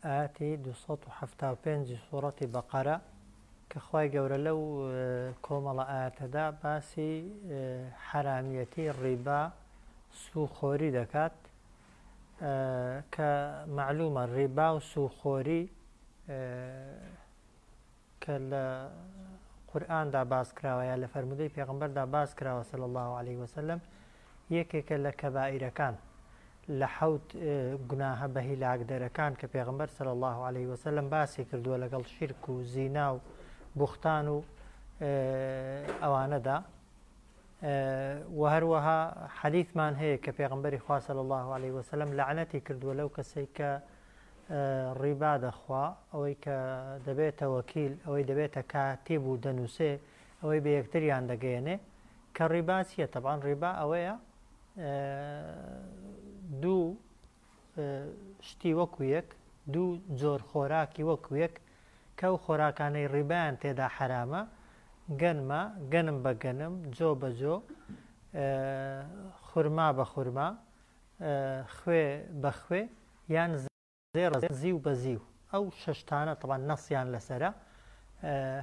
ئایەتی دوو سەد و حەفتا و پێنج ی سوڕەتی بەقەرە کە خوای گەورە لەو کۆمەڵە ئایەتەدا باسی حەرامیەتی ڕیبا سوخۆری دەکات کە مەعلومە ڕیبا و سوخۆری کە لە قورئاندا باس کراوە یا لە فەرموودەی پێغەمبەردا باس کراوە صلی اللە علیە وسلم یەکێکە لە کەبائیرەکان لە حەوت گوناهە بە هیلاکدەرەکان کە پێغمبەر صلی اللە علیه وسلم باسی کردووە لەگەڵ شیرک و زینا و بوختان و ئەوانەدا و هەروەها حەلیثمان هەیە کە پێغمبەری خوا صلی اللە علیه وسلم لەعنەتی کردووە لەو کەسێک کە ڕیبا دەخوا ئەوەی کە دەبێتە وەکیل ئەوەی دەبێتە کاتیب و دەنووسێ ئەوەی بە یەکتریان دەگەیەنێ کە ڕیبا چییە تەبان ڕیبا ئەوەیە دوو شتی وەکو یەک دوو جۆر خۆراکی وەکو یەک کە و خۆراکانەی ڕیبیان تێدا حرامە گەنمە گەنم بە گەنم جۆ بە جۆ خورما بە خورما خوێ بە خوێ یان زێڕ زیو بە زیو ئەو شەش تانە تەبان نەسیان لەسرە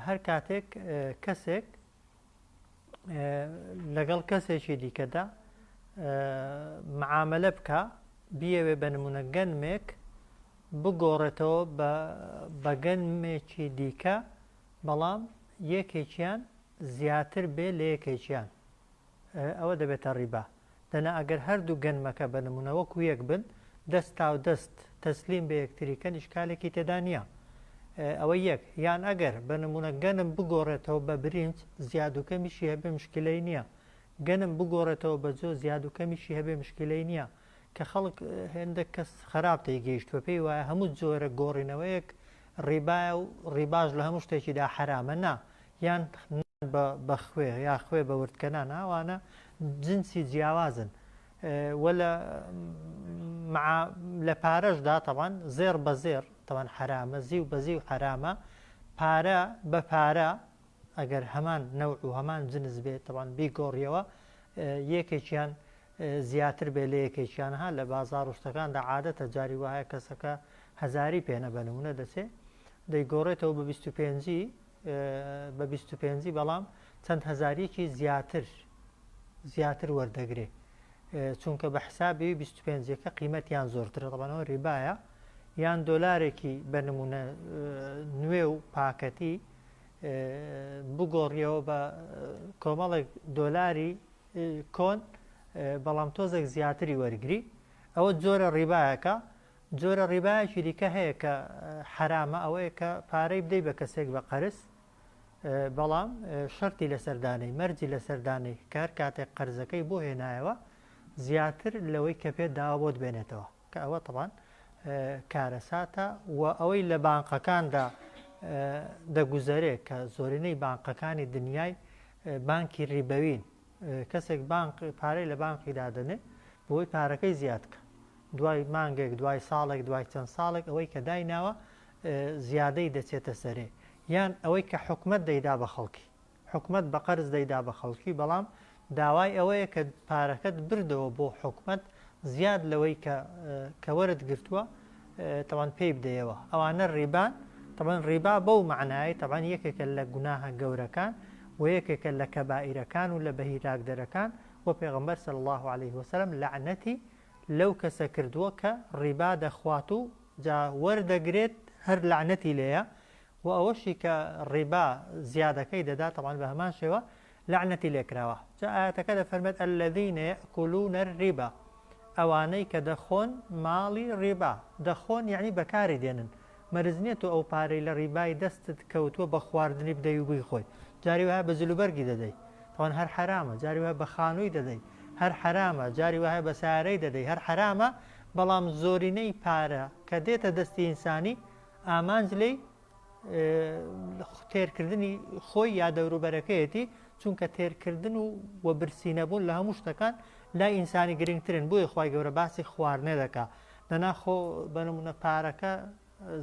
هەر کاتێک کەسێک لەگەڵ کەسێکی دیکەدا معاملە بکە بیەوێ بە نمونە گەنمێک بگۆڕێتەوە بە گەنمێکی دیکە بەڵام یەکێکیان زیاتر بێ لە یەکێکیان ئەوە دەبێتە ڕیبا دەنا ئەگەر هەردوو گەنمەکە بە نموونە وەکو یەک بن دەست تاو دەست تەسلیم بە یەکتری کەن ئیشکالێکی تێدا نییە ئەوە یەک یان ئەگەر بە نموونە گەنم بگۆڕێتەوە بە برینج زیاد و کەمیشی هەبێ مشکلەی نییە گەنم بگۆڕێتەوە بە جۆ زیاد و کەمیشی هەبێ مشکلەی نییە کە خەڵک هێندە کەس خراپ تێگەیشتوە پێی وایە هەموو جۆرە گۆڕینەوەیەک ڕیبایە و ڕیباش لە هەموو شتێکیدا حرامە نا یان بە خوێ یا خوێ بە وردکەنان ئەوانە جنسی جیاوازن و لە مع لە پارەشدا تەبان زێڕ بە زێڕ تەبان حەرامە زیو بە زیو حەرامە پارە بە پارە ئەگەر هەمان نەوع و هەمان جنس بێت تەبان بیگۆڕیەوە یەکێکیان زیاتر بێ لە یەکێکیان ها لە بازار و شتەکاندا عادەتە جاری وایە کەسەکە هەزاری پێنە بە نمونە دەچێ دەیگۆڕێتەوە بە 25 بە بیست و پێنجی بەڵام چەند هەزاریکی زیاتر زیاتر وەردەگرێ چونکە بە حسابی بیست و پێنجەکە قیمەتیان زۆرترە دەڵانەوە ریبایە یان دۆلارێکی بە نمونە نوێ و پاکەتی بگۆڕیەوە بە کۆمەڵێک دۆلاری کۆن بەڵام تۆزێک زیاتری وەرگری ئەوە جۆرە ڕیبایەکە جۆرە ڕیبایەکی دیکە هەیە کە حەرامە ئەوەیە کە پارەی بدەی بە کەسێک بە قەرز بەڵام شەرتی لە سەردانەی مەرجی لە سەردانەی کار کاتێک قەرزەکەی بۆ هێنایەوە زیاتر لەوەی کە پێ داوا بۆت بێنێتەوە کە ئەوە تەبان کارەساتە و ئەوەی لە بانقەکاندا دەگوزەرێ کە زۆرینەی بانقەکانی دنیای بانکی ریبەوین کەسێک بانق پارەی لە بانقی دادەنێ بۆی پارەکەی زیاد کە دوای مانگێک دوای ساڵێک دوای چەند ساڵێک ئەوەی کە دایناوە زیادەی دەچێتە سەرێ یان ئەوەی کە حکومت دەیدا بە خەڵکی حکومت بە قەرز دەیدا بە خەڵکی بەڵام داوای ئەوەیە کە پارەکەت بردەوە بۆ حکومت زیاد لەوەی کە کەوەرت گرتووە تەبعەن پێی بدەیەوە ئەوانە ڕیبان تەبعەن ڕیبا بەو مەعنایەی تەبعەن یەکێکە لە گوناهە گەورەکان و یەکێکە لە کەبائیرەکان و لە بەهیلاکدەرەکان و پێغەمبەر صلی اللە علیه وسلم لەعنەتی لەو کەسە کردووە کە ڕیبا دەخوات و جا وەردەگرێت هەر لەعنەتی لێیە و ئەوەشی کە ڕیبا زیادەکەی دەدات تەبعەن بە هەمان شێوە لەعنەتی لێکراوە جا ئایەتەکە دەفەرمێت الذین یەئکولون الربا ئەوانەی کە دەخۆن ماڵی ڕیبا دەخۆن یەعنی بەکاری دێنن مەرج نیە تۆ ئەو پارەی لە ڕیبای دەستت کەوتووە بە خواردنی بدەوی و بیخۆی جاری وایە بە جل و بەرگی دەدەی تاوان هەر حەرامە جاری وایە بە خانووی دەدەی هەر حەرامە جاری وایە بە سارەی دەدەی هەر حەرامە بەڵام زۆرینەی پارە کە دێتە دەستی ئینسانی ئامانج لێی تێرکردنی خۆی یا دەوروبەرەکەیەتی چونکە تێرکردن و وە برسی نەبوون لە هەموو شتەکان لای ئینسانی گرنگترن بۆیە خی گەورە باسی خواردنێ دەکا دەناخۆ بەنمونە پارەکە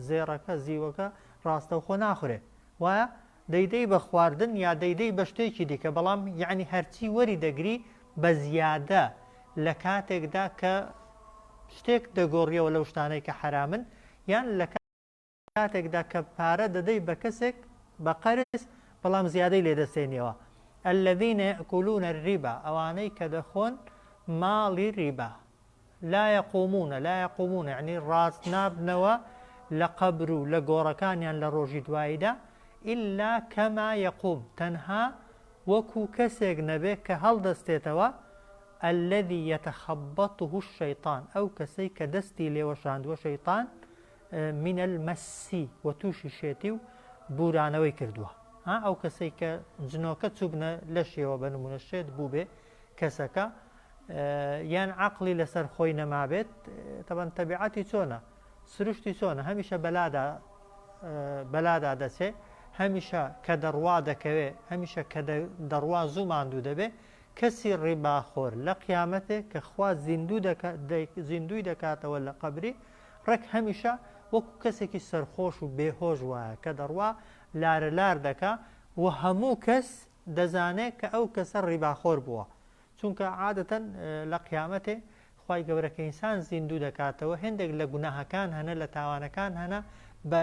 زێڕەکە زیوەکە ڕاستەوخۆ ناخورێ وایە دەیدەی بە خواردن یا دەیدەی بە شتێکی دیکە بەڵام یعنی هەرچی وەری دەگری بە زیادە لە کاتێکدا کە شتێک دەگۆڕیەوە لەو شتانەی کە حرامن یان لە کاتێکدا کە پارە دەدەی بە کەسێک بە قەرز بەڵام زیادەی لێ دەستێنیەوە الذین یأکلون الربا ئەوانەی کە دەخۆن ماڵی ریبا لا یقومون لا یقومون یعنی ڕاست نابنەوە لە قەبر و لە گۆڕەکانیان لە ڕۆژی دواییدا ئیلا کەما یقوم تەنها وەکو کەسێک نەبێ کە هەڵدەستێتەوە الذي يتخبطه الشيطان ئەو کەسەی کە دەستی لێوەشاندووە شەیطان من المسی و تووشی شێتی و بورانەوەی کردووە ها ئەو کەسەی کە جنۆکە چوبنە لەشیەوە بە نمونە شێت بوو بێ کەسەکە یان عقلی لەسەر خۆی نەمابێت تەبەن تەبیعەتی چۆنە سروشتی چۆنە هەمیشە بەلادا بەلادا دەچێ هەمیشە کە دەڕوا دەکەوێ هەمیشە کە دەڕوا زوو ماندوو دەبێ کەسی ڕیباخۆر لە قیامەتێک کە خوا زیندوو زیندوی دەکاتەوە لە قبری ڕێک هەمیشە وەکو کەسێکی سەرخۆش و بێ هۆش وایە کە دەڕوا لارە لار دەکا و هەموو کەس دەزانێ کە ئەو کەسە ڕیباخۆر بووە چونکە عادەتەن لە قیامەتێ خی گەورە کە ئینسان زیندوو دەکاتەوە هێندێک لە گوناهەکان هەنە لە تاوانەکان هەنە بە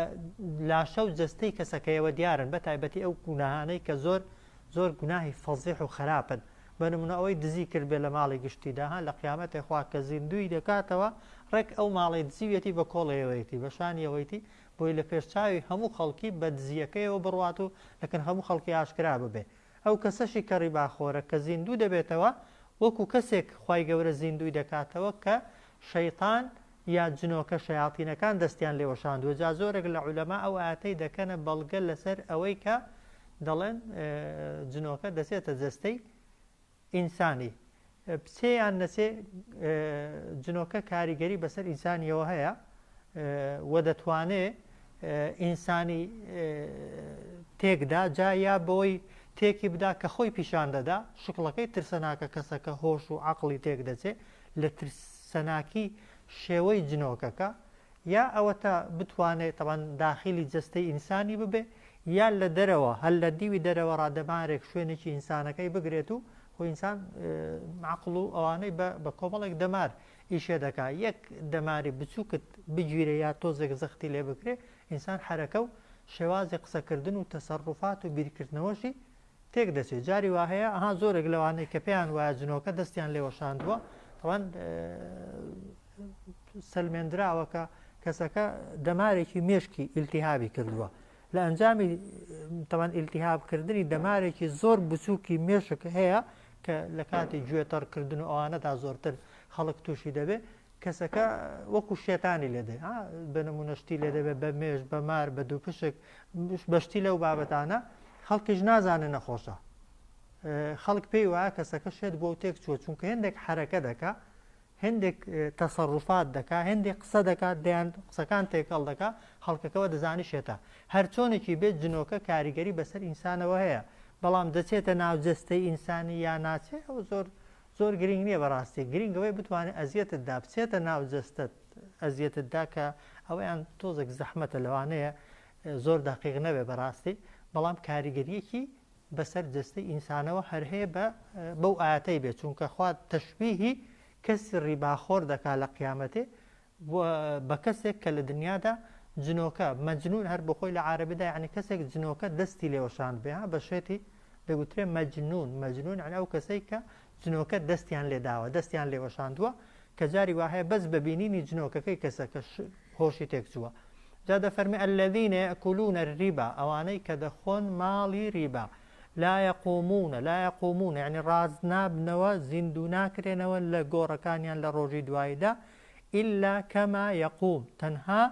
لاشە و جستەی کەسەکەیەوە دیارن بە تایبەتی ئەو گوناهانەی کە زۆر زۆر گوناهی فەزیح و خەراپن بە نمونە ئەوەی دزی کردبێ لە ماڵی گشتیدا ها لە قیامەتێ خوا کە زیندووی دەکاتەوە ڕێک ئەو ماڵەی دزیویەتی بە کۆڵێیەوەیەتی بە شانیەوەیتی بۆی لە پێش چاوی هەموو خەڵکی بە دزیەکەیەوە بڕوات و لە کن هەموو خەڵکی ئاشکرا ببێ ئەو کەسەشی کە ڕیباخۆرە کە زیندوو دەبێتەوە وەکو کەسێک خوای گەورە زیندووی دەکاتەوە کە شەیتان یا جنۆکە شەیاتینەکان دەستیان لێ وەشاندووە جا زۆرێک لە عولەما ئەو ئایەتەی دەکەنە بەڵگە لەسەر ئەوەی کە دەڵێن جنۆکە دەچێتە جەستەی ئینسانی بچێ یان نەچێ جنۆکە کاریگەری بەسەر ئینسانیەوە هەیە و دەتوانێ ئینسانی تێکدا جا یا بۆی تێکی بدا کە خۆی پیشان دەدا شکڵەکەی ترسەناکە کەسەکە هۆش و عقلی تێک دەچێ لە ترسناکی شێوەی جنۆکەکە یا ئەوەتا بتوانێ تەبعەن داخیلی جەستەی ئینسانی ببێ یا لە دەرەوە هەر لە دیوی دەرەوە ڕا دەمارێک شوێنێکی ئینسانەکەی بگرێت و خۆ ئینسان عقڵ و ئەوانەی بە کۆمەڵێک دەمار ئیشێ دەکا یەک دەماری بچووکت بگیرێ یا تۆزێک زەختی لێ بکرێ ئینسان حرەکە و شێوازی قسەکردن و تەسەڕوفات و بیرکردنەوەشی تێک دەچێت جاری وا هەیە ئەها زۆرێک لەوانەی کە پێیان وایە جنۆکە دەستیان لێوەشاندووە تەوان سەلمێندراوە کە کەسەکە دەمارێکی مێشکی ئیلتیهابی کردووە لە ئەنجامی تەوان ئیلتیهابکردنی دەمارێکی زۆر بچووکی مێشک هەیە کە لە کاتی گوێ تەڕکردن و ئەوانەدا زۆرتر خەڵک تووشی دەبێت کەسەکە وەکو شێتانی لێ دێ بە نمونە شتی لێ دەبێت بە مێش بە مار بە دوو پشک بەشتی لەو بابەتانە خەڵکیش نازانێ نەخۆشە خەڵک پێی وایە کەسەکە شێت بۆ تێک چوە چونکە هێندێک حرەکە دەکە هەندێک تەسەڕوفات دەکا هەندێک قسە دەکات دەیان قسەکان تێکەڵ دەکا خەڵکەکەەوە دەزانی شێتە هەر چۆنێکی بێت جنۆکە کاریگەری بەسەر ئینسانەوە هەیە بەڵام دەچێتە ناوجەستەی ئینسانی یا ناچێ ئەو زۆر زۆر گرینگ نیە بەڕاستی گرینگ ئەوەی بتوانێت ئەزیەتت دا بچێتە ناو جەستەت ئەزیەتت دا کە ئەوەیان تۆزێک زەحمەتە لەوانەیە زۆر دەقیق نەبێ بەڕاستی بەڵام کاریگەریەکی بەسەر جەستەی ئینسانەوە هەر هەیە بە بەو ئاەتەی بێت چونکە خوات تەشببیهی کەسی ڕیباخۆر دەکا لە قیامەتێ بوە بە کەسێک کە لە دنیادا جنۆکە، مجنون، هەر بۆخۆی لە عارەبیدا یەعنی کەسێک جنۆکە دەستی لێ وەشاندبێ ها بە شێتی دەگوترێ مجنون، مجنون، یەعنی ئەو کەسەی کە جنۆکە دەستیان لێ داوە دەستیان لێ وەشاندوە کە جاری وا هەیە بەس بە بینینی جنۆکەکەی کەسەکە هۆشی تێک چوە جا دەفەرمێ الذین یەئکولون الریبا ئەوانەی کە دەخۆن ماڵی ریبا لا یەقومون لا یەقومون یەعنی ڕاست نابنەوە زیندوو ناکرێنەوە لە گۆڕەکانیان لە ڕۆژی دواییدا الا کما یقوم، تەنها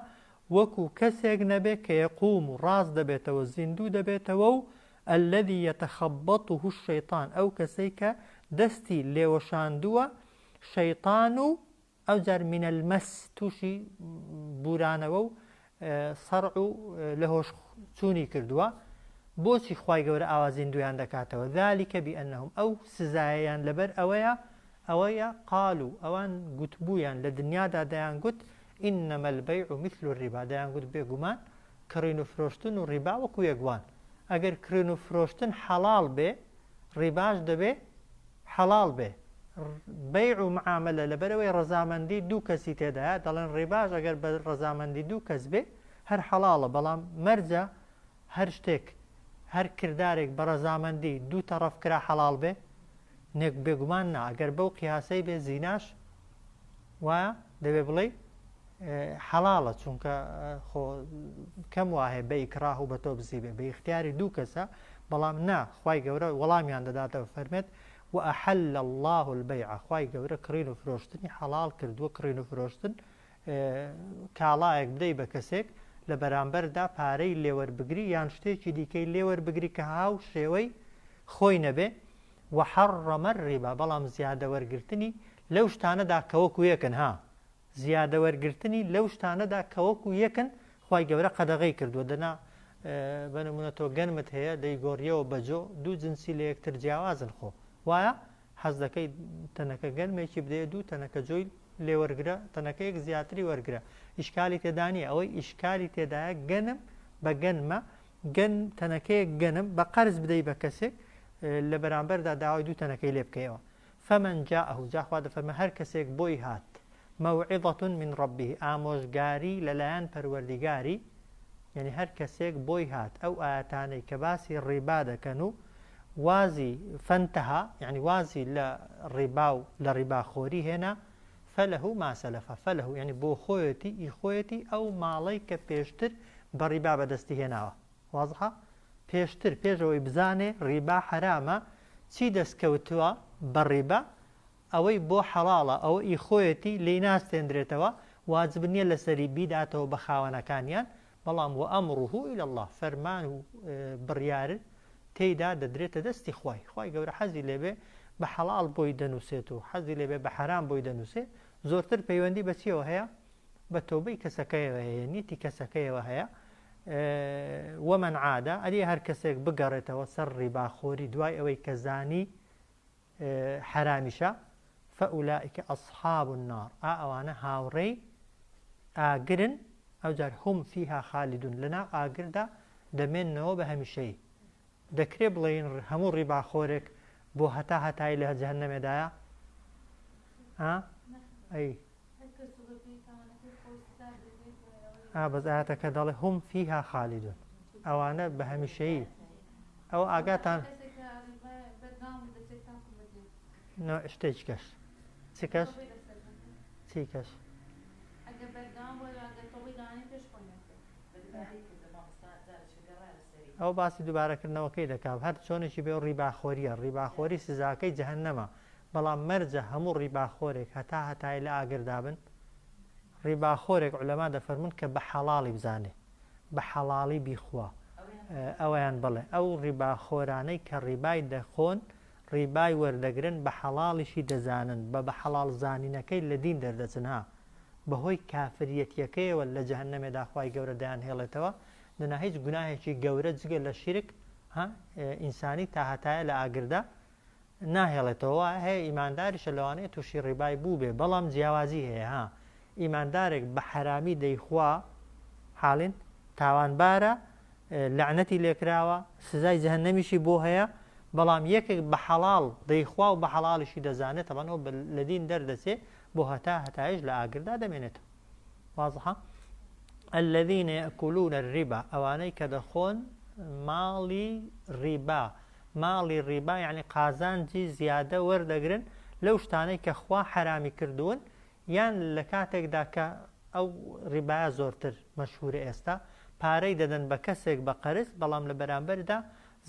وەکو کەسێک نەبێت کە یقوم و ڕاست دەبێتەوە زیندوو دەبێتەوە و الذی یتخبطه الشیطان ئەو کەسەی کە دەستی لێوەشاندووە شەیطان و ئەوجار من المس توشی بورانەوە و سەرع و لەهۆش چوونی کردووە، بۆچی خوای گەورە ئاوا زیندوویان دەکاتەوە، ذلک بانهم، ئەو سزایەیان لەبەر ئەوەیە، ئەوەیە، قالوا، ئەوان گوتبوویان لە دنیادا دەیانگوت، انما البیع مثل الربا، دەیانگوت بێگومان کڕین و فرۆشتن و ڕیبا وەکو یەک وان. ئەگەر کرێن و فرۆشتن حەڵاڵ بێ ڕیباش دەبێ حەڵاڵ بێ بەیع و معاملە لەبەرەوەی ڕەزامەندی دوو کەسی تێدایە دەڵێن ڕێباش ئەگەر بە ڕەزامەندی دوو کەس بێ هەر حەڵاڵە بەڵام مەرجە هەر شتێک هەر کردارێک بە ڕەزامەندی دوو تەڕەف کرا حەڵاڵ بێ نێک بێگومان نا گەر بەو قیاسەی بێ زیناش وایە دەبێ بڵێ حەڵاڵە چونکە خۆ کەم وایە بە ئیکراه و بە تۆ بزی بێ بە اختیاری دوو کەسە بەڵام نا خی گەورە وەڵامیان دەداتەوە فەرمێت و ئەحل لە الله البەیع خی گەورە کڕین و فرۆشتنی حەڵال کردووە کڕین و فرۆشتن کاڵایەک بدەی بە کەسێک لە بەرامبەردا پارەی لێوەربگری یان شتێکی دیکەی لێوەربگری کە هاوشێوەی خۆی نەبێ وحەڕەمە ڕیبا بەڵام زیادە وەرگرتنی لەو شتانەدا کەوەکو یەکن ها زیادە وەرگرتنی لەو شتانەدا کەوەکو یەکن خی گەورە قەدەغی کردووە دەنا بەنمونە تۆ گەنمت هەیە دەیگۆڕیەوە بەجۆ دوو جنسی لە یەکتر جیاوازن خۆ وایە حەز دەکەی تەنەکە گەرمێکی بدەیە دوو تەنەکە جۆی لێوەرگرە تەنەکەیەک زیاتری وەرگرە ئیشکالی تێدانانی ئەوەی ئیشکالی تێدایە گەنم بە گەنمە گەن تەنەکەیەک گەنم بە قەرز بدەی بە کەسێک لە بەرامبەردا داوای دوو تەنەکەی لێ بکەیەوە فەمەنجا ئەهوجا خوا دەفەرمە هەر کەسێک بۆی هات موعظە من ربه ئامۆژگاری لەلایەن پەروەردیگاری یعنی هەر کەسێک بۆی هات ئەو ئاەتانەی کە باسی ڕیبا دەکەن و وازی فەنتەها یعنی وازی لە ڕیبا و لە ڕیباخۆری هێنا فەلەه و ماسەلەفە فەلەه و یعنی بۆ خۆیەتی ئی خۆیەتی ئەو ماڵەی کە پێشتر بە ڕیبا بەدەستی هێناوە وازحە پێشتر پێشەوەی بزانێ ڕیبا حرامە چی دەستکەوتووە بە ڕیبا ئەوەی بۆ حەڵاڵە ئەوە ئی خۆیەتی لێی ناستێندرێتەوە، واجب نیە لەسەری بیداتەوە بە خاوەنەکانیان، بەڵام وامره الی اللە فەرمان و بڕیار تێیدا دەدرێتە دەستی خوای، خوای گەورە حەزی لێبێ بە حەڵاڵ بۆی دەنووسێت و حەزی لێبێ بە حەرام بۆی دەنووسێ، زۆرتر پەیوەندی بە چیەوە هەیە؟ بە تۆبەی کەسەکەیەوە هەیە، نیەتی کەسەکەیەوە هەیە، ومن عاد، ئەرێ هەرکەسێک بگەڕێتەوە سەر ڕیباخۆری دوای ئەوەی کە زانی حەرامیشە فەئولائیک ئەصحاب النار ئا ئەوانە هاوڕێی ئاگرن ئەوجار هم فیها خالدون لەناو ئاگردا دەمێنەوە بە هەمیشەی دەکرێ بڵێن هەموو ڕیباخۆرێک بۆ هەتا هەتایی لە جەهەنەمێدایە ها ئەی ئابەز ئاەتەکە دەڵێ هم فیها خالیدون ئەوانە بە هەمیشەیی ئەو ئاگاتان شتێک کەش چ کەش چی کەش ئەو باسی دوبارەکردنەوەکەی دەکا و هەر چۆنێکی بێ ئەو ڕیباخۆریە، ڕیباخۆری سزاکەی جەهەنەمە، بەڵام مەرجە هەموو ڕیباخۆرێک هەتا هەتایی لە ئاگردا بن؟ ڕیباخۆرێک عولەما دەفەرموون کە بە حەڵاڵی بزانێ بە حەڵاڵی بیخوا ئەویان بڵێ ئەو ڕیباخۆرانەی کە ڕیبای دەخۆن ڕیبای وەردەگرن بە حەڵاڵیشی دەزانن بە بە حەڵاڵ زانینەکەی لە دین دەردەچن ها بەهۆی کافریەتیەکەیەوە لە جەهەنەمێدا خوای گەورە دەیانهێڵێتەوە دەنا هیچ گوناهێکی گەورە جگە لە شیرک ها ئینسانی تا هەتایە لە ئاگردا ناهێڵێتەوە هەیە ئیمانداریشە لەوانەیە تووشی ڕیبای بوو بێ بەڵام جیاوازی هەیە ها ئیماندارێک بە حرامی دەیخوا حاڵین تاوانبارە لەعنەتی لێکراوە سزای جەهنەمیشی بۆ هەیە بەڵام یەکێک بە حەڵال دەیخوا و بە حەڵالیشی دەزانێت تەبەنەوە لە دین دەردەچێ بۆ هەتا هەتایش لە ئاگردا دەمێنێتەوە وازحە الذين يأكلون الربا ئەوانەی کە دەخۆن ماڵی ڕیبا ماڵی ڕیبا یعنی قازانجی زیادە وەردەگرن لەو شتانەی کە خوا حرامی کردوون یان لە کاتێکدا کە ئەو ڕیبایە زۆرتر مەشهورە ئێستا پارەی دەدەن بە کەسێک بە قەرز بەڵام لە بەرامبەردا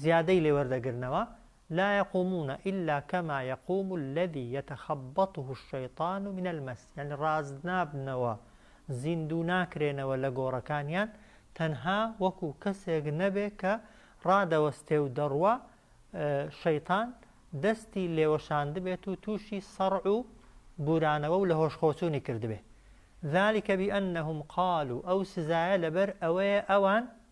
زیادەی لێوەردەگرنەوە لا یقومون الا کما یقوم الذی یتخبطه الشیطان من المس یانی ڕاست نابنەوە زیندوو ناکرێنەوە لە گۆڕەکانیان تەنها وەکو کەسێک نەبێ کە ڕادەوەستێ و دەڕوا شەیتان دەستی لێوەشاندبێت و تووشی سەڕع و بورانەوە و لە هۆشخۆچوونی کردبێ ذلك بأنهم قالوا ئەو سزایە لەبەر ئەوەیە ئەوان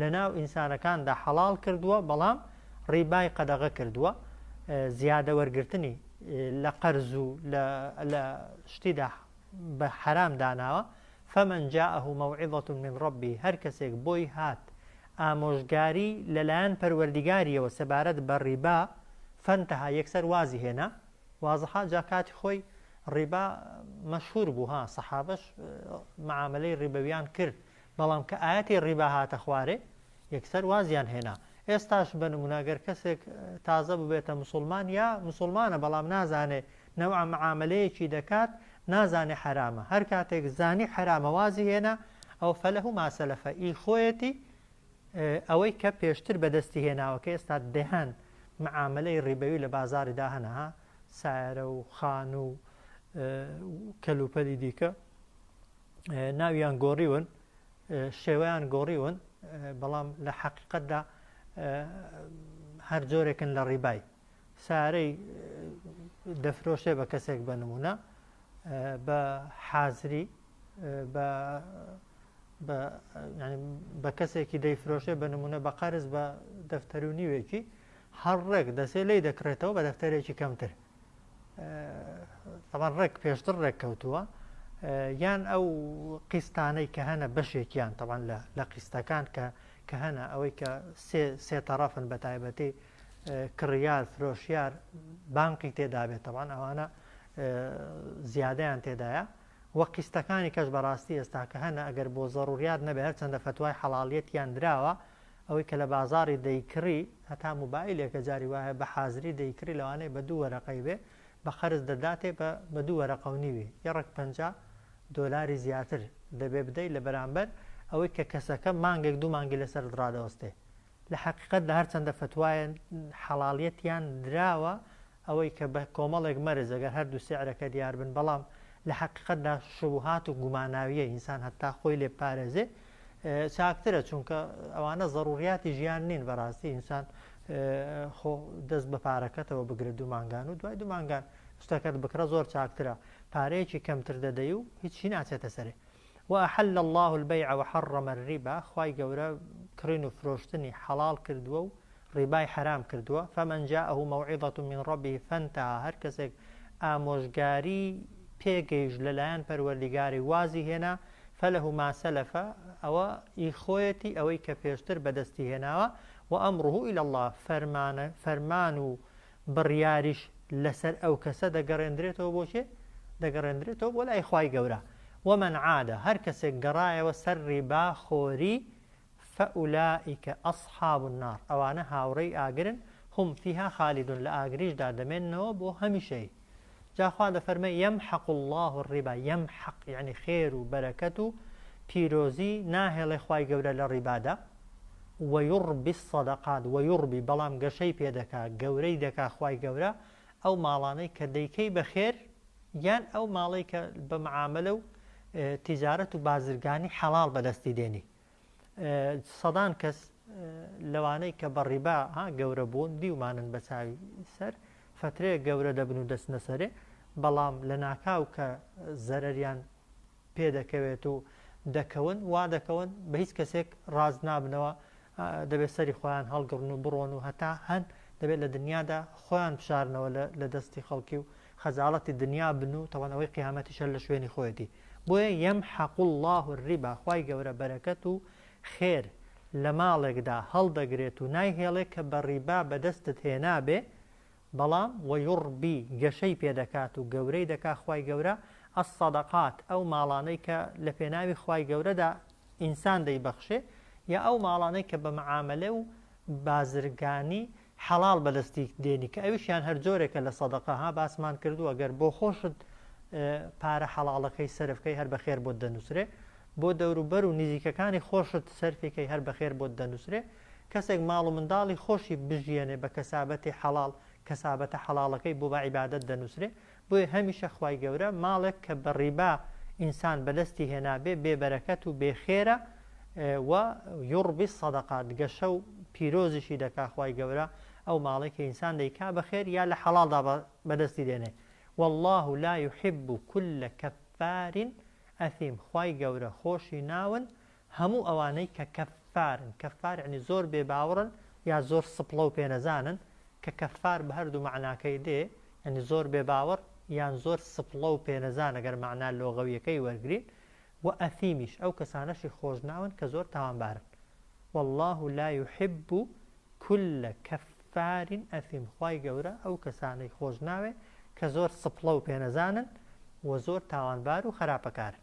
لەناو ئینسانەکاندا حەڵاڵ کردووە بەڵام ڕیبای قەدەغە کردووە زیادە وەرگرتنی لە قەرز و لە شتیدا بە حەرام داناوە فمن جاءه موعظة من ربی هەر کەسێک بۆی هات ئامۆژگاری لەلایەن پەروەردیگاریەوە سەبارەت بە ڕیبا فەنتەها یەکسەر وازی هێنا وازەها جا کاتی خۆی ڕیبا مەشهور بوو ها سەحابش معاملەی ڕیبەویان کرد بەڵام کە ئایەتی ڕیبا هاتە خوارێ یەکسەر وازیان هێنا ئێستاش بە نمونە گەر کەسێک تازە ببێتە مسلمان یا مسلمانە بەڵام نازانێ نەوعە معاملەیەکی دەکات نازانێ حرامە هەر کاتێک زانی حرامە وازی هێنا ئەو فەلەه ماسەلەفە ئی خۆیەتی ئەوەی کە پێشتر بەدەستی هێناوە کە ئێستا دەهان معاملەی ڕیبەوی لە بازاری داهەنەها سایرە و خان و کەلوپەلی دیکە ناویان گۆڕیون شێوەیان گۆڕیون بەڵام لە حەقیقەتدا هەر جۆرێکن لە ڕیبای سارەی دەفرۆشێ بە کەسێک بە نمونە بە حازری بە کەسێکی دەیفرۆشێ بە نمونە بە قەرز بە دەفتەرونیوێکی هەر ڕێک دەسێ لی دەکرێتەوە بە دەفتەرێکی کەمتر تەبان ڕێک پێشتر ڕێک کەوتووە یان ئەو قیستانەی کە هەنە بەشێکیان تەبان لە قیستەکان کە کە هەنە ئەوەی کە سێ تەڕەفن بە تایبەتی کڕیار فرۆشیار بانقی تێدابێتەوان ئەوانە زیادیان تێدایە وە قیستەکانی کەش بەڕاستی ئێستاکە هەنە ئەگەر بۆ زەڕوریات نەبێت چەندە فتوای حەڵالیت یان دراوە ئەوەی کە لە بازاڕی دەیکڕی هەتا موبایلێکە جاری وایە بە حازری دەیکڕی لەوانەیە بە دوو وەرەقەی بێ بە قەرز دەداتێ بە بە دوو وەرەقە و نیوی یە ڕەک پەنجا دۆلاری زیاتر دەبێ بدەی لە بەرامبەر ئەوەی کە کەسەکە مانگێک دوو مانگی لەسەر ڕادەوەستێ لە حەقیقەت دا هەرچەندە فەتوایە حەڵاڵیەتیان دراوە ئەوەی کە بە کۆمەڵێک مەرج ئەگەر هەر دوو سعرەکە دیار بن بەڵام لە حەقیقەت دا شوبوهات و گوماناوییە ئینسان هەتا خۆی لێ بپارێزێ چاکترە چونکە ئەوانە زەڕووریاتی ژیان نین بە ڕاستی ئینسان خۆ دەست بە پارەکەتەوە بگرە دوو مانگان و دوای دوو مانگان شتەکەت بکڕە زۆر چاکترە پارەیەکی کەمتر دەدەی و هیچی ناچێتە سەرێ وأحل اللە البیع وحرم الربا خوای گەورە کڕین و فرۆشتنی حەڵاڵ کردووە و ڕیبای حەرام کردووە فمن جاءه موعظە من ربه فانتهی هەر کەسێک ئامۆژگاری پێ گەیشت لەلایەن پەروەردیگاری وازی هێنا فله ما سلف ئەوە ئی خۆیەتی ئەوەی کە پێشتر بەدەستی هێناوە وامره الی اللە فەرمان و بڕیاریش لەسەر ئەو کەسە دەگەڕێندرێتەوە بۆ کێ؟ دەگەڕێندرێتەوە بۆ لای خوای گەورە، ومن عاد هەر کەسێک گەڕایەوە سەر ڕیبا خۆری فاولائک اصحاب النار ئەوانە هاوڕێی ئاگرن هم فیها خالدون لە ئاگریشدا دەمێننەوە بۆ هەمیشەیی. جا خوا دەفەرمێ یمحق اللە الربا یمحق یەعنی خێر و بەرەکەت و پیرۆزی ناهێڵێ خوای گەورە لە ڕیبادا ویڕبی الصدقات ویڕبی بەڵام گەشەی پێ دەکا گەورەی دەکا خوای گەورە ئەو ماڵانەی کە دەیکەی بە خێر یان ئەو ماڵەی کە بە معامەلە و تیجارەت و بازرگانی حەڵاڵ بەدەستی دێنی سەدان کەس لەوانەی کە بە ڕیبا ها گەورە بوون دیومانن بە چاوی سەر فترەیە گەورە دەبن و دەستنە سەرێ بەڵام لە ناکاو کە زەرەریان پێ دەکەوێت و دەکەون وا دەکەون بە هیچ کەسێک ڕاز نابنەوە دەبێت سەری خۆیان هەڵگڕن و بڕۆن و هەتا هەن دەبێت لە دنیادا خۆیان بشارنەوە لە دەستی خەڵکی و خەزاڵەتی دنیا بن و تەوانەوەی قیامەتیشە لە شوێنی خۆیەتی بۆیە یمحق اللە الربا خوای گەورە بەرەکەت و خێر لە ماڵێکدا هەڵدەگرێت و نایهێڵێ کە بە ڕیبا بەدەستت هێنابێ بەڵام ویڕبی گەشەی پێدەکات و گەورەی دەکا خوای گەورە الصدقات ئەو ماڵانەی کە لە پێناوی خوای گەورەدا ئینسان دەیبەخشێ یا ئەو ماڵانەی کە بە معامەلە و بازرگانی حەڵاڵ بەدەستی دێنی کە ئەویشیان هەر جۆرێکە لە سەدەقە ها باسمان کردووە گەر بۆخۆشت پارە حەڵاڵەکەی سەرف کەی هەر بەخێر بۆت دەنووسرێ بۆ دەوروبەر و نزیکەکانی خۆشت سەرفی کەی هەر بەخێر بۆت دەنووسرێ کەسێک ماڵ و منداڵی خۆشی بژیێنێ بە کەسابەتی حەڵاڵ کەسابەتە حەڵاڵەکەی بۆ بە عیبادەت دەنووسرێ بۆیە هەمیشە خوای گەورە ماڵێک کە بە ڕیبا ئینسان بەدەستی هێنابێ بێ بەرەکەت و بێ خێرە و یوڕبی الصدقات گەشە و پیرۆزیشی دەکا خوای گەورە ئەو ماڵەی کە ئینسان دەیکا بە خێر یا لە حەڵاڵدا بەدەستی دێنێ واللە لا یحب کل کفار ئەثیم خوای گەورە خۆشی ناون هەموو ئەوانەی کە کەففارن، کەففار یەعنی زۆر بێ باوڕن یا زۆر سپڵە و پێنەزانن، کە کەففار بە هەردوو مەعناکەی دێ، یەعنی زۆر بێ باوەڕ یان زۆر سپڵە و پێنەزان ئەگەر مەعنا لۆغەویەکەی وەرگرین، وە ئەثیمیش ئەو کەسانەشی خۆش ناون کە زۆر تاوانبارن. واللە لا یحب کل کفار اثیم خوای گەورە ئەو کەسانەی خۆش ناوێ کە زۆر سپڵە و پێنەزانن و زۆر تاوانبار و خەراپەکارن.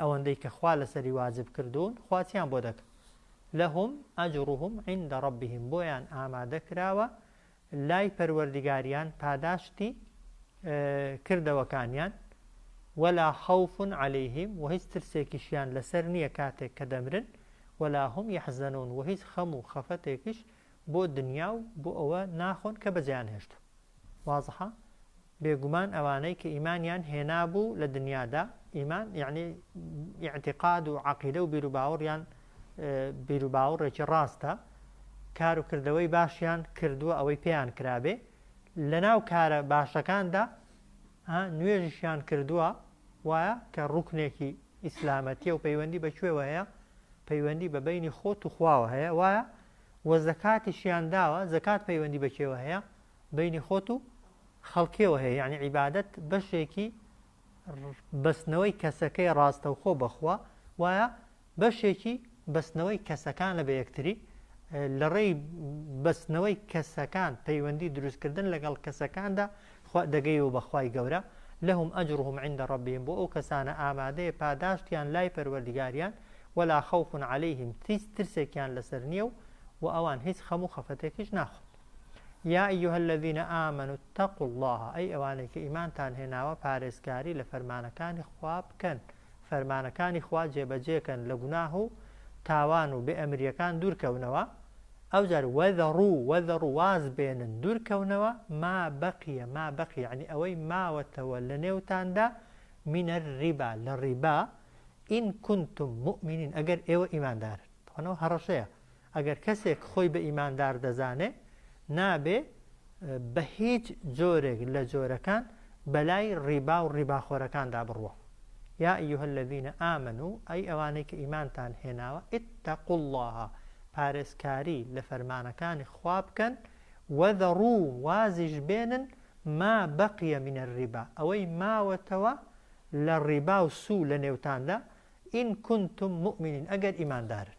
ئەوەندەی کە خوا لەسەری واجب کردوون خوا چیان بۆ دەکە لەهم ئەجڕهم عیندە ڕەبیهم بۆیان ئامادە کراوە لای پەروەردگاریان پاداشتی کردەوەکانیان ولا خوف عليهم و هیچ ترسێکیشیان لەسەر نییە کاتێک کە دەمرن ولا هم يحزنون و هیچ خەم و خەفەتێکیش بۆ دنیا و بۆ ئەوە ناخۆن کە بەجیان هێشت وازحە بێگومان ئەوانەی کە ئیمانیان هێنابوو لە دنیادا، ئیمان یەعنی ئیعتیقاد و عەقیدە و بیروباوەڕیان بیروباوەڕێکی ڕاستە، کار و کردەوەی باشیان کردووە ئەوەی پێیان کرابێ، لەناو کارە باشەکاندا نوێژیشیان کردووە وایە کە ڕوکنێکی ئیسلامەتیە و پەیوەندی بە کوێوە هەیە پەیوەندی بە بینی خۆت و خواوە هەیە وایە وە زەکاتیشیان داوە زەکات پەیوەندی بە کێوە هەیە بەینی خۆت و خەڵکیەوە هەیە یانی عیبادەت بەشێکی بەستنەوەی کەسەکەی ڕاستەوخۆ بەخوا وایە بەشێکی بەستنەوەی کەسەکانە بە یەکتری لە ڕێی بەستنەوەی کەسەکان پەیوەندی دروستکردن لەگەڵ کەسەکاندا دەگەی و بەخوای گەورە لەهم ئەجرهم عند ڕبیم بۆ ئەو کەسانە ئامادەیە پاداشتیان لای پەروەردگاریان ولا خوف عليهلەیهم تیس ترسێکیان لەسەر نییە و و ئەوان هیچ خەم و خەفەتێکیش ناخۆن یا ایها الذین آمنوا اتقوا اللە ئەی ئەوانەی کە ئیمانتان هێناوە پارێزگاری لە فەرمانەکانی خوا بکەن فەرمانەکانی خوا جێبەجێکەن لە گوناه و تاوان و بێ ئەمریەکان دوورکەونەوە ئەوجار وەذەڕو وەذەڕو واز بێنن دوورکەونەوە ما بەقیە ما بەقی یعنی ئەوەی ماوەتەوە لە نێوتاندا منە ڕیبا لە ڕیبا ئین کنتم مؤمنین ئەگەر ئێوە ئیماندارن تەوانەوە هەڕەشەیە ئەگەر کەسێک خۆی بە ئیماندار دەزانێ نابێ بە هیچ جۆرێک لە جۆرەکان بەلای ڕیبا و ڕیباخۆرەکاندا بڕوا یا ایها الذین آمنوا ئەی ئەوانەی کە ئیمانتان هێناوە اتقوا الله پارێزکاری لە فەرمانەکانی خوا بکەن وذروا وازیش بێنن ما بقی من الربا ئەوەی ماوەتەوە لە ڕیبا و سوو لە نێوتاندا ان کنتم مؤمنین ئەگەر ئیماندارن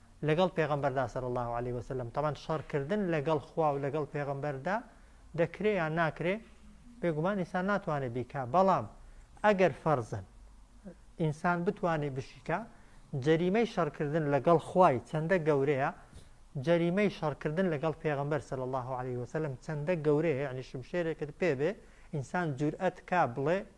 لەگەڵ پێغەمبەردا صلی اللە علیە وسلم، تەبعەن شەڕ کردن لەگەڵ خوا و لەگەڵ پێغەمبەردا دەکرێ یان ناکرێ؟ بێگومان ئینسان ناتوانێ بیکا، بەڵام ئەگەر فەرزەن ئینسان بتوانێ بشیکا، جەریمەی شەڕ کردن لەگەڵ خوای چەندە گەورەیە، جەریمەی شەڕ کردن لەگەڵ پێغەمبەر صلی اللە علیە وسلم چەندە گەورەیە، یەعنی شمشێرێکت پێ بێ ئینسان جورئەت کا بڵێ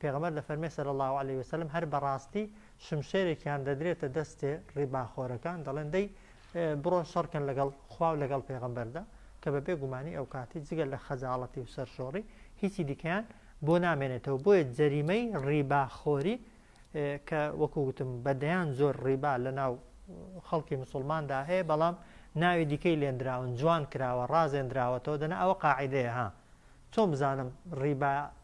پێغەمبەر دەفەرمێ صلی اللە علیە وسلم هەر بەڕاستی شمشێرێکیان دەدرێتە دەستێ ڕیباخۆرەکان دەڵێن دەی بڕۆن شەڕکەن لەگەڵ خواو لەگەڵ پێغەمبەردا کە بە بێ گومانی ئەو کاتی جگە لە خەجاڵەتی و سەرشۆڕی هیچی دیکەیان بۆ نامێنێتەوە بۆیە جەریمەی ڕیباخۆری کە وەکو گوتم بە دەیان زۆر ڕیبا لە ناو خەڵکی مسلماندا هەیە بەڵام ناوی دیکەی لێندراون جوان کراوە ڕازێندراوەتەوە دەنا ئەوە قاعدەیە ها چۆن بزانم ڕیبا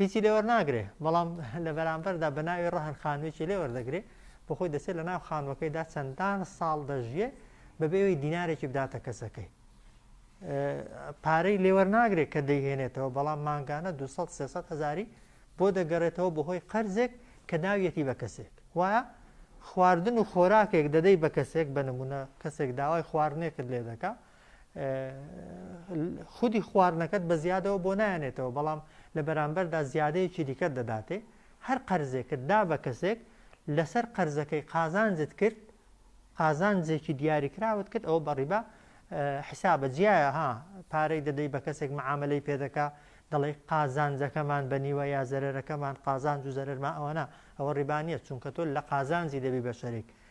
هیچی لێ وەرناگرێ بەڵام لە بەرامبەردا بە ناوی ڕەهن خانوێکی لێ وەردەگرێ بۆ خۆی دەچێت لە ناو خانوەکەیدا چەندان ساڵ دەژیێ بەبێەوەی دینارێکی بداتە کەسەکەی پارەی لێوەر ناگرێت کە دەیهێنێتەوە بەڵام مانگانە 200 هزاری بۆ دەگەڕێتەوە بەهۆی قەرزێک کە ناویەتی بە کەسێک وایە خواردن و خۆراکێک دەدەی بە کەسێک بە نمونە کەسێک داوای خواردنێکت لێ دەکە خودی خواردنەکەت بە زیادەوە بۆ نایەنێتەوە بەڵام لە بەرامبەردا زیادەیەکی دیکە دەداتێ هەر قەرزێکت دا بە کەسێک لەسەر قەرزەکەی قازانجت کرد قازانجێکی دیاریکراوت کرد ئەوە بەڕیبا حسابە جیایە ها پارەی دەدەی بە کەسێک معاملەی پێدەکە دەڵێ قازانجەکەمان بە نیوە یا زەرەرەکەمان قازانج و زەرمە ئەوەنا ئەوە ڕیبانیە چونکە تۆ لە قازانجی دەبی بە شەرێک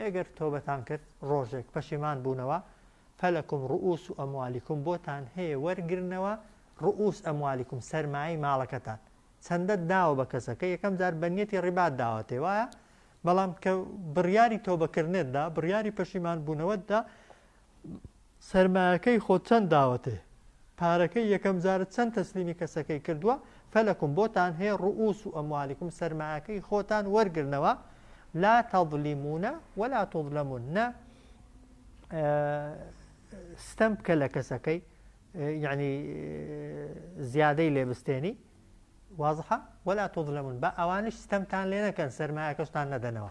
ئەگەر تۆبەتان کرد ڕۆژێک پەشیمان بوونەوە فلکم رئوس اموالکم بۆتان هەیە وەرگرنەوە رئوس اموالکم سەرمایەی ماڵەکەتان چەندەت داوە بە کەسەکە یەکەم جار بە نیەتی ڕیبات داوەتێ وایە بەڵام کە بڕیاری تۆبەکردنت دا بڕیاری پەشیمان بوونەوەت دا سەرمایەکەی خۆت چەند داوەتێ پارەکەی یەکەم جارت چەند تەسلیمی کەسەکەی کردوە فەلەکم بۆتان هەیە ڕوئوس و ئەموالیکم سەرمایەکەی خۆتان وەرگرنەوە لا تەزلیمونە ولا تظلمون نە ستەم بکە لە کەسەکەی یعنی زیادەی لێ بستێنی وازحە ولا تظلمون بە ئەوانش ستەمتان لێ نەکەن سەرمایەکەشتان نەدەنەوە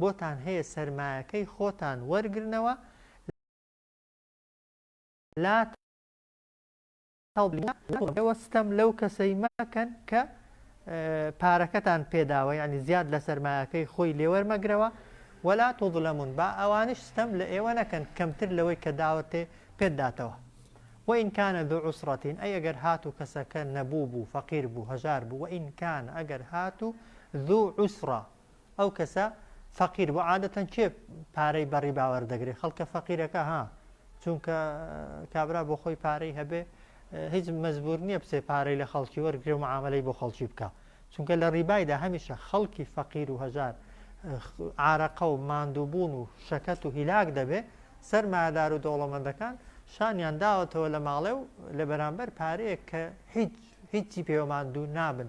بۆتان هەیە سەرمایەکەی خۆتان وەرگرنەوە لە ئێوە ستەم لەو کەسەی مەکەن کە پارەکەتان پێداوە ینی زیاد لە سەرمایەکەی خۆی لێوەرمەگرەوە وەلا تۆظلەمون با ئەوانش ستەم لە ئێوە نەکەن کەمتر لەوەی کە داوەتێ پێداتەوە وئینکانە دوو عوسڕەتین ئەی ئەگەر هات و کەسەکە نەبوو بوو فەقیر بوو هەژار بوو وئینکان ئەگەر هات و دوو عوسڕە ئەو کەسە فەقیر بوو عادەتەن کێ پارەی بەڕی باوەر دەگرێت خەڵکە فەقیرەکە ها چونکە کابرا بۆ خۆی پارەی هەبێ هیچ مەزبور نییە بچێ پارەی لە خەڵکی وەرگێ و معاملەی بۆ خەڵکی بکە چونکە لە ڕیبایدا هەمیشە خەڵکی فەقیر و هەژار عراقە و ماندووبوون و شەکەت و هیلاک دەبێ سەرمادار و دەوڵەمەندەکان شانیان داوەتەوە لە ماڵێ و لە بەرامبەر پارەیە کە هیچ هیچی پێوەماندوو نابن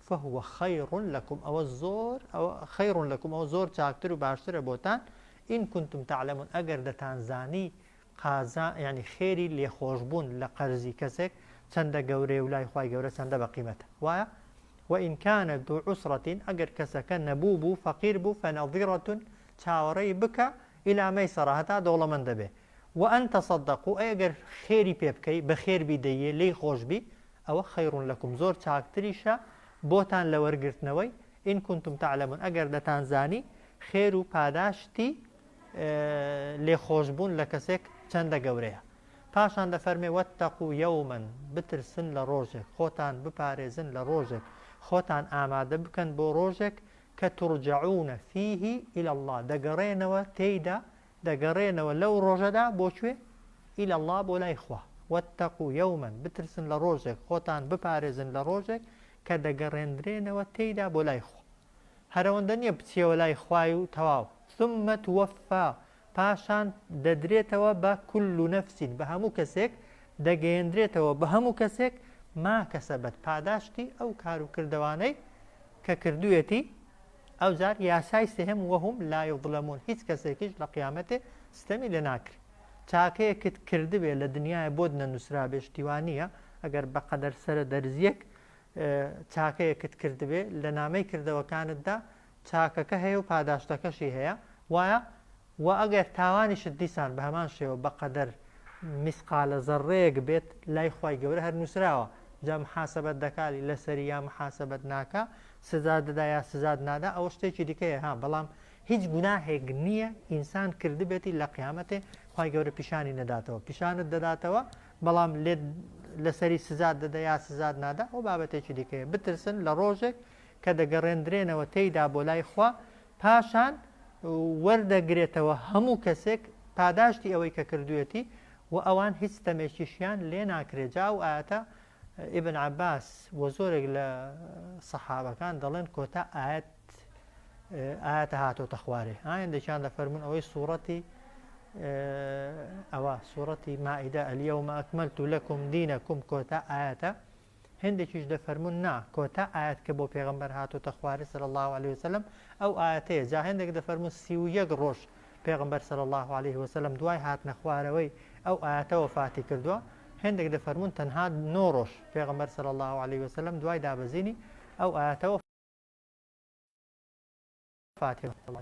فهو خیر لکم ئەوە زۆر ئەوە خیر لکم ئەوە زۆر چاکتر و باشترە بۆتان ان کنتم تعلمون ئەگەر دەتانزانی قازا یعنی خێری لێخۆشبوون لە قەرزی کەسێک چەندە گەورەیە و لای خوای گەورە چەندە بە قیمەتە وایە وئین کان ذو عسرة ئەگەر کەسەکە نەبوو بوو فەقیر بوو فنظرة چاوەڕێی بکە الى میسرە هەتا دەوڵەمەند دەبێ وان تصدقوا ئەی ئەگەر خێری پێ بکەی بە خێر بی دەیێ لێی خۆش بی ئەوە خیرون لکم زۆر چاکتریشە بۆتان لە وەرگرتنەوەی، ان کنتم تعلمون ئەگەر دەتانزانی، خێر و پاداشتی لێخۆشبوون لە کەسێک چەندە گەورەیە. پاشان دەفەرمێ، واتقوا یوما، بترسن لە ڕۆژێک، خۆتان بپارێزن لە ڕۆژێک، خۆتان ئامادە بکەن بۆ ڕۆژێک، کە ترجعون فیه الی اللە، دەگەڕێنەوە تێیدا دەگەڕێنەوە لەو ڕۆژەدا بۆ کوێ؟ الی اللە بۆ لای خوا واتقوا یوما بترسن لە ڕۆژێک خۆتان بپارێزن لە ڕۆژێک کە دەگەڕێندرێنەوە تێیدا بۆ لای خوا هەرەوەندە نییە بچیەوە لای خوای و تەواو ثم توفا پاشان دەدرێتەوە بە کل نفس بە هەموو کەسێک دەگەیەندرێتەوە بە هەموو کەسێک ما کەسەبەت پاداشتی ئەو کار و کردەوانەی کە کردوێتی ئەوجار یاسای سێهەم وهم لا یظلمون هیچ کەسێکیش لە قیامەتێ ستەمی لێ ناکرێ چاکەیەکت کردبێ لە دنیایە بۆت نەنووسرابێ شتیوا نییە ئەگەر بە قەدەر سەرە دەرزیەک چاکەیەکت کردبێ لە نامەی کردەوەکانتدا چاکەکە هەیە و پاداشتەکەشی هەیە وایە وە ئەگەر تاوانیشت دیسان بە هەمان شێوە بە قەدەر میسقالە زەڕڕەیەک بێت لای خوای گەورە هەر نوسراوە جا محاسەبەت دەکا لەسەری یا محاسەبەت ناکا سزات دەدا یا سزات نادا ئەوە شتێکی دیکەیە ها بەڵام هیچ گوناهێک نییە ئینسان کردبێتی لە قیامەتێ خوای گەورە پیشانی نەداتەوە پیشانت دەداتەوە بەڵام لێت لەسەری سزات دەدا یا سزات نادا ئەو بابەتێکی دیکەیە بترسن لە ڕۆژێک کە دەگەڕێندرێنەوە تێیدا بۆ لای خوا پاشان وەردەگرێتەوە هەموو کەسێک پاداشتی ئەوەی کە کردوویەتی و ئەوان هیچ ستەمێکیشیان لێ ناکرێت جا ئەو ئایەتە ئیبن عەباس و زۆرێک لە سەحابەکان دەڵێن کۆتا ئاەت ئاەتە هاتۆتە خوارێ ئایندێکیان دەفەرمون ئەوەی سوورەتی ئەوە سوورەتی مائیدە ئەلیەومە ئەکمەلت و لەکم دینەکم کۆتا ئاەتە هێندێکیش دەفەرموون نا کۆتا ئایەت کە بۆ پێغەمبەر هاتۆتە خواری صلی اللە علیه وسلم ئەو ئایەتەیە جا هێندێک دەفەرموون سی و یەک ڕۆژ پێغەمبەر صلی اللە علیه وسلم دوای هاتنە خوارەوەی ئەو ئایەتە وەفاتی کردووە هێندێک دەفەرموون تەنها نۆ ڕۆژ پێغەمبەر صلی اللە علیه وسلم دوای دابەزینی ئەو ئایەتە وەفاتی کردووە.